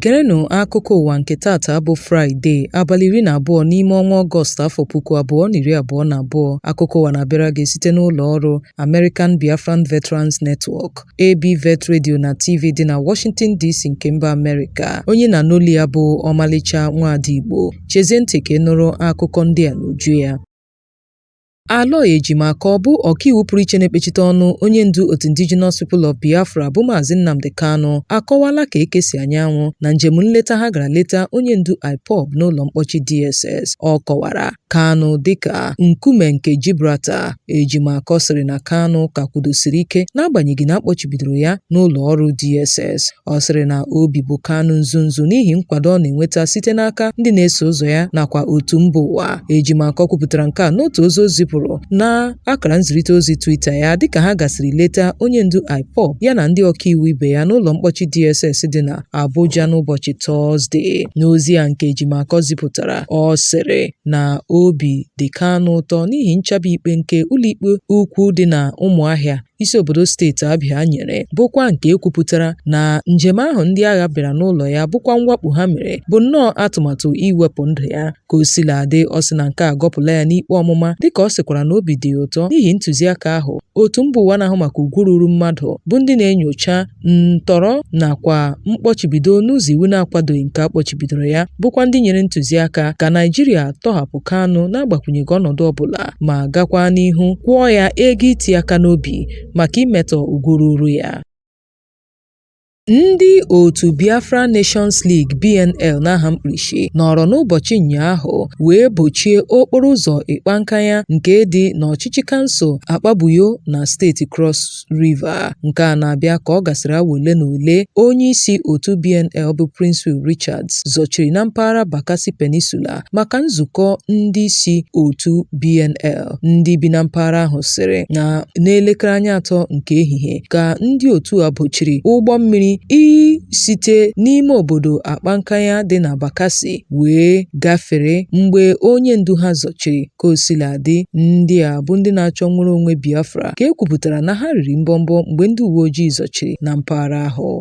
Gerenụ akụkọ ụwa nke taata bụ Fraịde abalị iri na abụọ n'ime ọnwa Ọgọst afọ puku abụọ na iri abụọ na abụọ. Akụkọ ụwa na-abịara gị site n'ụlọ ọrụ American Biafran Veterans Network. ABVET Radio na TV dị na Washington DC nke mba Amerịka onye a na-anụ olu ya bụ ọmalịcha nwaada Igbo chezie ntị ka ị nụrụ akụkọ ndị a n'uju ya Aloy Ejimakor bụ ọkaiwu pụrụ iche na-ekpechite ọnụ onye ndu otu Indigenous People of Biafra bụ Maazị Nnamdi Kanu akọwala ka eke si anya anwụ na njem nleta ha gara leta onye ndu IPOB n'ụlọ mkpọchi DSS ọ kọwara Kanu dịka nkume nke Gibraltar. Ejimakor sịrị na Kanu ka kwudosiri ike n'agbanyeghị na a kpọchibidoro ya n'ụlọ ọrụ DSS. Ọ sịrị na obi bụ Kanu nzunzu n'ihi nkwado ọ na-enweta site n'aka ndị na-eso ụzọ ya nakwa otu mba ụwa. Ejimakor kwupụtara nke a n'otu ozi o zipụrụ na akara nzirịta ozi Twitter ya dịka ha gasịrị leta onye ndu IPOB ya na ndị ọkaiwu ibe ya n'ụlọ mkpọchi DSS dị na Abuja n'ụbọchị Tọzde. N'ozi a nke Ejimakor zipụtara, ọ sịrị na obi dị Kanu ụtọ n'ihi nchabi ikpe nke ụlọikpe ukwu dị na Ụmụahịa isi obodo steeti Abịa nyere bụkwa nke e kwupụtara na njem ahụ ndị agha bịara n'ụlọ ya bụkwa mwakpo ha mere bụ nnọọ atụmatụ iwepụ ndụ ya Ka o sila dị, ọ sị na nke a agọpụla ya n'ikpe ọmụma dịka ọ sịkwara na obi dị ya ụtọ n'ihi ntụziaka ahụ otu mba ụwa na-ahụ maka ugwu ruuru mmadụ bụ ndị na-enyocha ntọrọ nakwa mkpọchibido n'ụzọ iwu na-akwadoghị nke a kpọchibidoro ya bụkwa ndị nyere ntụziaka ka Naijiria tọhapụ Kanu n'agbakwụnyeghị ọnọdụ ọbụla ma gakwa n'ihu kwụọ ya ego iti aka n'obi maka imetọ ugwu ruuru ya Ndị otu Biafra Nations League (BNL) n'aha mkpirisi nọrọ n'ụbọchị ụnyaahụ wee bochie okporo ụzọ Ikpa Nkanya nke dị n'ọchịchị kansụl Akpabuyo na steeti Cross River. Nke a na-abịa ka ọ gasịrị awa ole na ole onyeisi otu BNL bụ Princewill Richards zọchiri na mpaghara Bakassi Peninsula maka nzukọ ndị isi otu BNL ndị bi na mpaghara ahụ sịrị na n'elekere anya atọ nke ehihie ka ndị otu a bochiri ụgbọ mmiri isite n'ime obodo Akpa Nkanya dị na Bakassi wee gafere mgbe onye ndu ha zọchiri ka o sila dị ndị a bụ ndị na-achọ nnwere onwe Biafra ka e kwupụtara na ha riri mbọmbọ mgbe ndị uwe ojii zọchiri na mpaghara ahụ.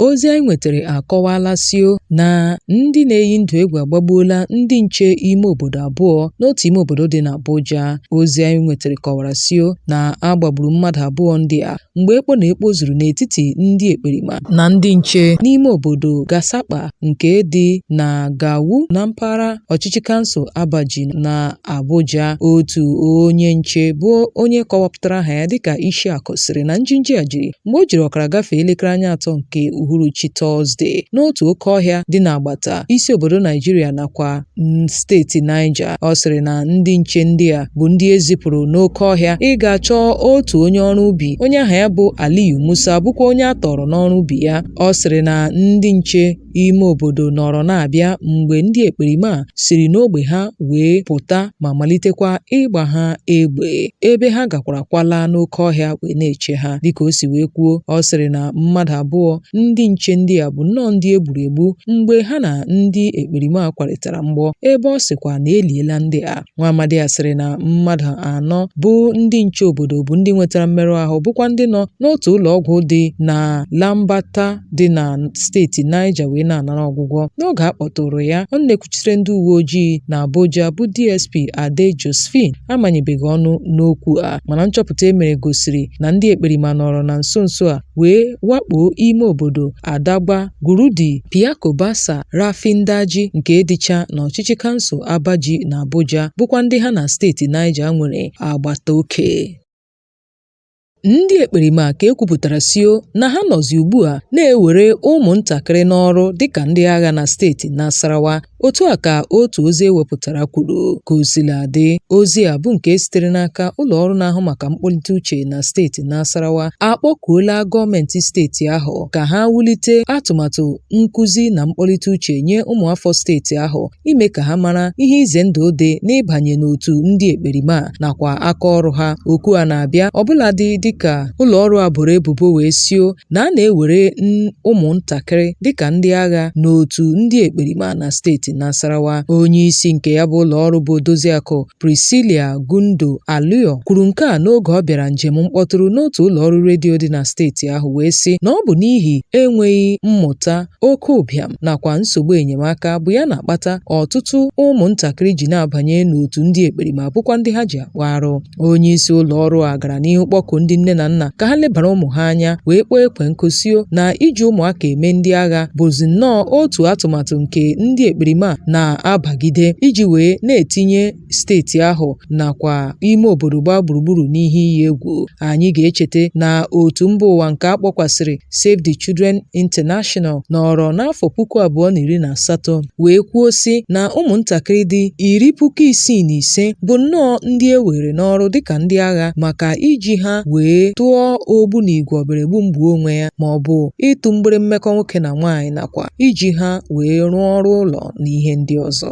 Ozi anyị nwetara akọwaala sio na ndị na-eyi ndụ egwu agbagbuola ndị nche ime obodo abụọ n'otu ime obodo dị n'Abuja. Ozi anyị nwetara kọwara sio na a gbagburu mmadụ abụọ ndị a mgbe ekpo na ekpo zuru n'etiti ndị ekperima na ndị nche n'ime obodo Gasakpa nke dị na Gawu na mpaghara ọchịchị kansụl Abaji na Abuja, otu onye nche bụ onye kọwapụtara aha ya dịka Ishiaku sịrị na njinji a jiri mgbe o jiri ọkara gafee elekere anya atọ nke uhuruchi Tọzdee n'otu oke ọhịa dị n'agbata isi obodo Naijiria nakwa steeti Niger. Ọ sịrị na ndị nche ndị a bụ ndị e zipụrụ n'oke ọhịa ịga chọọ otu onye ọrụ ubi onye aha ya bụ Aliyu Musa bụkwa onye a tọọrọ n'ọrụ ubi ya. Ọ sịrị na ndị nche ime obodo nọrọ na-abịa mgbe ndị ekperima a siri n'ogbe ha wee pụta ma malitekwa ịgba ha egbe ebe ha gakwara kwala n'oke ọhịa wee na-eche ha dịka o si wee kwuo ọ sịrị na mmadụ abụọ ndị nche ndị a bụ nnọọ ndị e gburu egbu mgbe ha na ndị ekperima a kwarịtara mgbọ ebe ọ sịkwa na e liela ndị a Nwaamadi a sịrị na mmadụ anọ bụ ndị nche obodo bụ ndị nwetara mmerụ ahụ bụkwa ndị nọ n'otu ụlọ ọgwụ dị na Lambata dị na steeti Niger wee na-anara ọgwụgwọ. N'oge a kpọtụụrụ ya, ọnụ na-ekwuchitere ndị uwe ojii na Abuja bụ DSP Adeh Josephine amanyebeghị ọnụ n'okwu a mana nchọpụta e mere gosiri na ndị ekperima nọrọ na nso nso a wee wakpoo ime obodo Adagba, Gurdi, Piako Bassa, Rafin Daji nke dịcha n'ọchịchị kansụl Abaji na Abuja bụkwa ndị ha na steeti Niger nwere agbata oke. Ndị ekperima ka e kwupụtara sio na ha nọzi ugbu a na-ewere ụmụntakịrị n'ọrụ dịka ndị agha na steeti Nasarawa Otu a ka otu ozi e wepụtara kwuru. Ka o sila dị, ozi a bụ nke sitere n'aka ụlọ ọrụ na-ahụ maka mkpọlite uche na steeti Nasarawa akpọkuola gọọmenti steeti ahụ ka ha wulite atụmatụ nkụzi na mkpọlite uche nye ụmụafọ steeti ahụ ime ka ha mara ihe ize ndụ dị n'ịbanye n'otu ndị ekperima nakwa aka ọrụ ha. Oku a na-abịa ọbụladị dịka ụlọ ọrụ a boro ebubo wee sio na a na-ewere ụmụntakịrị dịka ndị agha n'otu ndị ekperima na steeti Nasarawa. Onye isi nke ya bụ ụlọ ọrụ bụ Odoziakụ Priscilla Gondoaluor kwuru nke a n'oge ọ bịara njem mkpọtụrụ n'otu ụlọ ọrụ redio dị na steeti ahụ wee sị na ọ bụ n'ihi enweghị mmụta oke ụbịam nakwa nsogbu enyemaka bụ ya na-akpata ọtụtụ ụmụntakịrị ji na-abanye n'otu ndị ekperima bụkwa ndị ha ji akpa arụ. Onye isi ụlọ ọrụ a gara n'ihu kpọku ndị nne na nna ka ha lebara ụmụ ha anya wee kpọọ ekwe nkụ sio na iji ụmụaka eme ndị agha bụzi nnọọ otu atụmatụ nke ndị ekperima na-abagide iji wee na-etinye steeti ahụ nakwa ime obodo gbaa gburugburu n'ihe iyi egwu. Anyị ga-echeta na otu mba ụwa nke a kpọkwasịrị Save the Children International nọrọ n'afọ puku abụọ na iri na asatọ wee kwuo sị na ụmụntakịrị dị iri puku isii na ise bụ nnọọ ndị e were n'ọrụ dịka ndị agha maka iji ha wee tụọ ogbunigwe ọbịara egbu m gbuo onwe ya ma ọ bụ ịtụ mgbere mmekọ nwoke na nwaanyị nakwa iji ha wee rụọ ọrụ ụlọ na ihe ndị ọzọ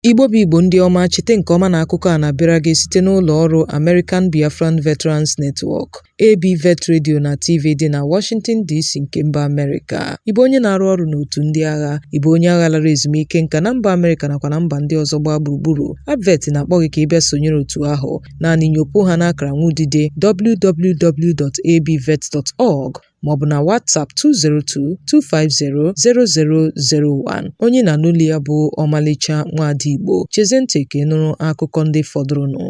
Igbo bụ Igbo ndị ọma chete nke ọma na akụkọ a na-abịara gị site n'ụlọ ọrụ American Biafran Veterans Network AB Vet Radio na TV dị na Washington DC nke mba Amerịka. Ị bụ onye na-arụ ọrụ n'otu ndị agha, ị bụ onye agha lara ezumike nka na mba Amerịka nakwa na mba ndị ọzọ gbaa gburugburu. ABVET na-akpọ gị ka ị bịa sonyere otu ahụ. Naanị nyopụ ha n'akara nwudide www.abvet.org maọbụ na WhatsApp 202-250-0001. Onye ị na-anụ olu ya bụ ọmalịcha nwaada Igbo. Chezie ntị ka ị nụrụ akụkọ ndị fọdụrụnụ.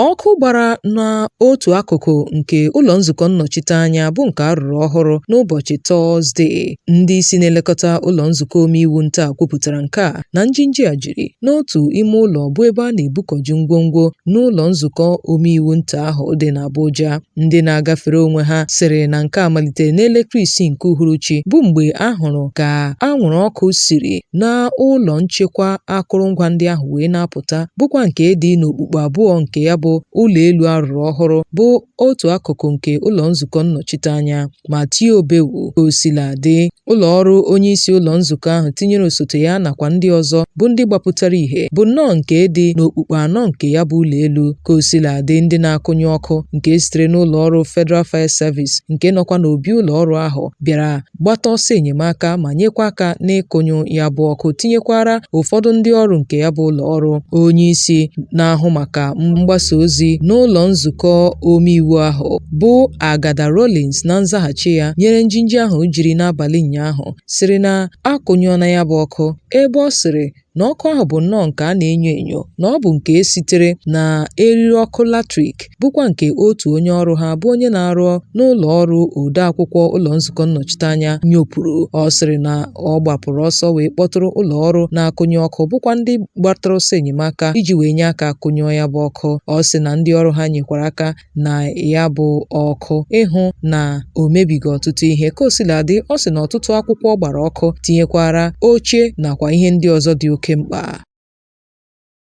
Ọkụ gbara n'otu akụkụ nke ụlọ nzukọ nnọchiteanya bụ nke a rụrụ ọhụrụ n'ụbọchị Tọzdee. Ndị isi na-elekọta ụlọ nzukọ omeiwu nta kwupụtara nke a na njinji a jiri n'otu ime ụlọ bụ ebe a na-ebukọju ngwongwo n'ụlọ nzukọ omeiwu nta ahụ dị n'Abuja. Ndị na-agafere onwe ha sịrị na nke a malitere n'elekere isii nke uhuruchi bụ mgbe a hụrụ ka anwụrụ ọkụ siri na ụlọ nchekwa akụrụngwa ndị ahụ wee na-apụta bụkwa nke dị n'okpukpu abụọ nke ya bụ ụlọ elu a rụrụ ọhụrụ bụ otu akụkụ nke ụlọ nzukọ nnọchiteanya ma tie obewu. Ka o sila dị, ụlọ ọrụ onye isi ụlọ nzukọ ahụ tinyere osote ya nakwa ndị ọzọ bụ ndị gbapụtara ihe bụ nnọọ nke dị n'okpukpu anọ nke ya bụ ụlọ elu. Ka o sila dị, ndị na-akụnyụ ọkụ nke sitere n'ụlọ ọrụ Federal Fire Service nke nọkwa n'obi ụlọ ọrụ ahụ bịara gbata ọsọ enyemaka ma nyekwa aka n'ịkụnyụ ya bụ ọkụ tinyekwara ụfọdụ ndị ọrụ nke ya bụ ụlọ ọrụ. Onye isi na-ahụ maka mgbasa ozi n'ụlọ nzukọ omeiwu ahụ bụ Agada Rawlings na nzaghachi ya nyere njinji ahụ jiri n'abalị ụnyaahụ sịrị na a kụnyụọna ya bụ ọkụ ebe ọ sịrị na ọkụ ahụ bụ nnọọ nke a na-enyo enyo na ọ bụ nke sitere na eriri ọkụ latrik bụkwa nke otu onye ọrụ ha bụ onye na-arụ n'ụlọ ọrụ odeakwụkwọ ụlọ nzukọ nnọchiteanya nyopụrụ ọ sịrị na ọ gbapụrụ ọsọ wee kpọtụrụ ụlọ ọrụ na-akụnyụ ọkụ bụkwa ndị gbatara ọsọ enyemaka iji wee nye aka kụnyụọ ya bụ ọkụ ọ sị na ndị ọrụ ha nyekwara aka na ya bụ ọkụ ịhụ na o mebighị ọtụtụ ihe ka o sila dị ọ sị na ọtụtụ akwụkwọ gbara ọkụ tinyekwara oche nakwa ihe ndị ọzọ dị oke mkpa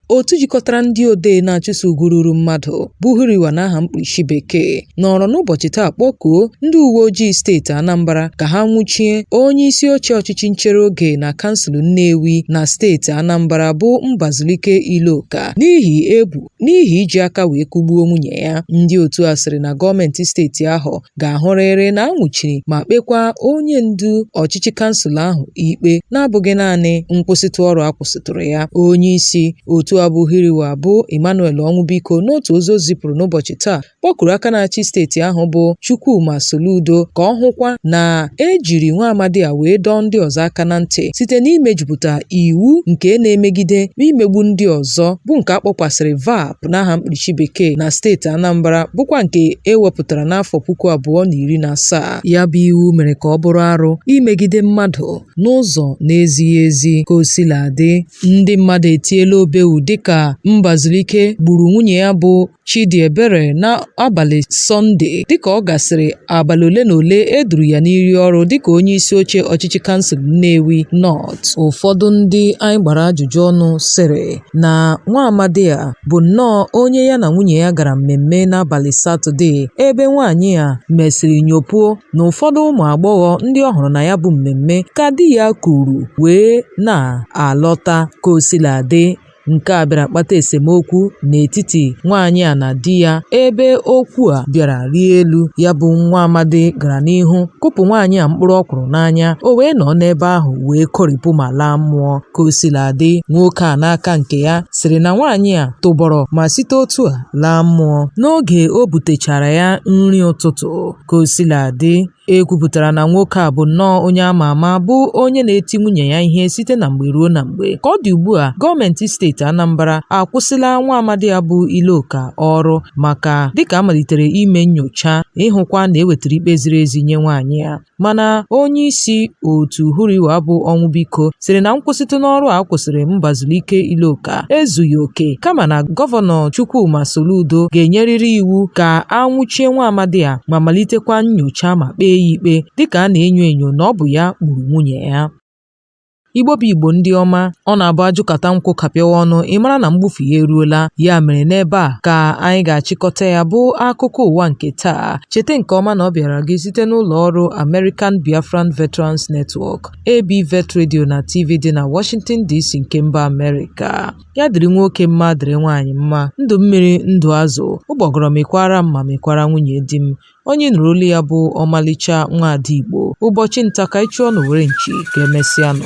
otu jikọtara ndị odee na-achụso ugwu ruru mmadụ bụ HURIWA n'aha mkpuchi bekee nọrọ n'ụbọchị taa kpọkuo ndị uwe ojii steeti Anambra ka ha nwụchie onye isi oche ọchịchị nchere oge na kansụl Nnewi na steeti Anambra bụ Mbazulike Iloka n'ihi ebu n'ihi iji aka wee kụgbuo nwunye ya ndị otu a sịrị na gọọmenti steeti ahụ ga-ahụrịrị na a nwụchiri ma kpekwa onye ndu ọchịchị kansụl ahụ ikpe na-abụghị naanị nkwụsịtụ ọrụ a kwụsịtụrụ ya onye isi otu a bụ huriwa bụ emmanuel ọnwụbiko n'otu ozi o zipụrụ n'ụbọchị taa kpọkuru aka na-achị steeti ahụ bụ Chukwuma Soludo ka ọ hụkwa na e jiri nwa amadi a wee dọọ ndị ọzọ aka na ntị site n'imejupụta iwu nke na-emegide imegbu ndị ọzọ bụ nke a kpọkwasịrị VAPP n'aha mkpirisi bekee na steeti Anambra bụkwa nke e wepụtara n'afọ puku abụọ na iri na asaa ya bụ iwu mere ka ọ bụrụ arụ imegide mmadụ n'ụzọ na-ezighị ezi ka o sila dị ndị mmadụ etiela obewu dịka Mbazulike gburu nwunye ya bụ Chidiebere n'abalị Sọnde dịka ọ gasịrị abalị ole na ole e duru ya n'iyi ọrụ dịka onye isi oche ọchịchị kansụl Nnewi North. Ụfọdụ ndị anyị gbara ajụjụ ọnụ sịrị na nwa amadi a bụ nnọọ onye ya na nwunye ya gara mmemme n'abalị Satọde ebe nwaanyị a mesịrị nyopuo na ụfọdụ ụmụ agbọghọ ndị ọ hụrụ na ya bụ mmemme ka di ya kuru wee na-alọta ka o sila dị. Nke a bịara kpata esemokwu n'etiti nwaanyị a na di ya ebe okwu a bịara rie elu ya bụ nwa amadi gara n'ihu kụpụ nwaanyị a mkpụrụ ọkwụrụ n'anya o wee nọ n'ebe ahụ wee kọrịpụ ma laa mmụọ ka o sila dị nwoke a n'aka nke ya sịrị na nwaanyị a tụbọrọ ma site otu a laa mmụọ n'oge o butechaara ya nri ụtụtụ ka o sila dị E kwupụtara na nwoke a bụ nnọọ onye ama ama bụ onye na-eti nwunye ya ihe site na mgbe ruo na mgbe. Ka ọ dị ugbu a, gọọmenti steeti Anambra akwụsịla nwa amadi a bụ Iloka ọrụ maka dịka a malitere ime nnyocha ịhụkwa na e wetara ikpe ziri ezi nye nwaanyị a. Mana onye isi otu Huriwa bụ Ọnwụbiko sịrị na nkwụsịtụ n'ọrụ a kwụsịrị Mbazulike Iloka ezughị oke kama na gọvanọ Chukwuma Soludo ga-enyerịrị iwu ka a nwụchie nwa amadi a ma malitekwa nnyocha ma kpee ya ikpe dịka a na-enyo enyo na ọ bụ ya gburu nwunye ya. Igbo bụ Igbo ndị ọma, ọ na-abụ ajụkata nkwụ kapịawa ọnụ ị mara na mgbufu ya eruola. Ya mere n'ebe a ka anyị ga-achịkọta ya bụ akụkọ ụwa nke taa. Cheta nke ọma na ọ bịaara gị site n'ụlọ ọrụ American Biafran Veterans Network, ABVET Radio na TV dị na Washington DC nke mba Amerịka. ya dịrị nwoke mma dịrị nwaanyị mma ndụ mmiri ndụ azụ ụgbọgọrọ mịkwaara m ma mịkwaara nwunye di m onye nụrụ olu ya bụ ọmalịcha nwa ada igbo ụbọchị nta ka ị chụọ n'owere nchi ka e mesịa nụ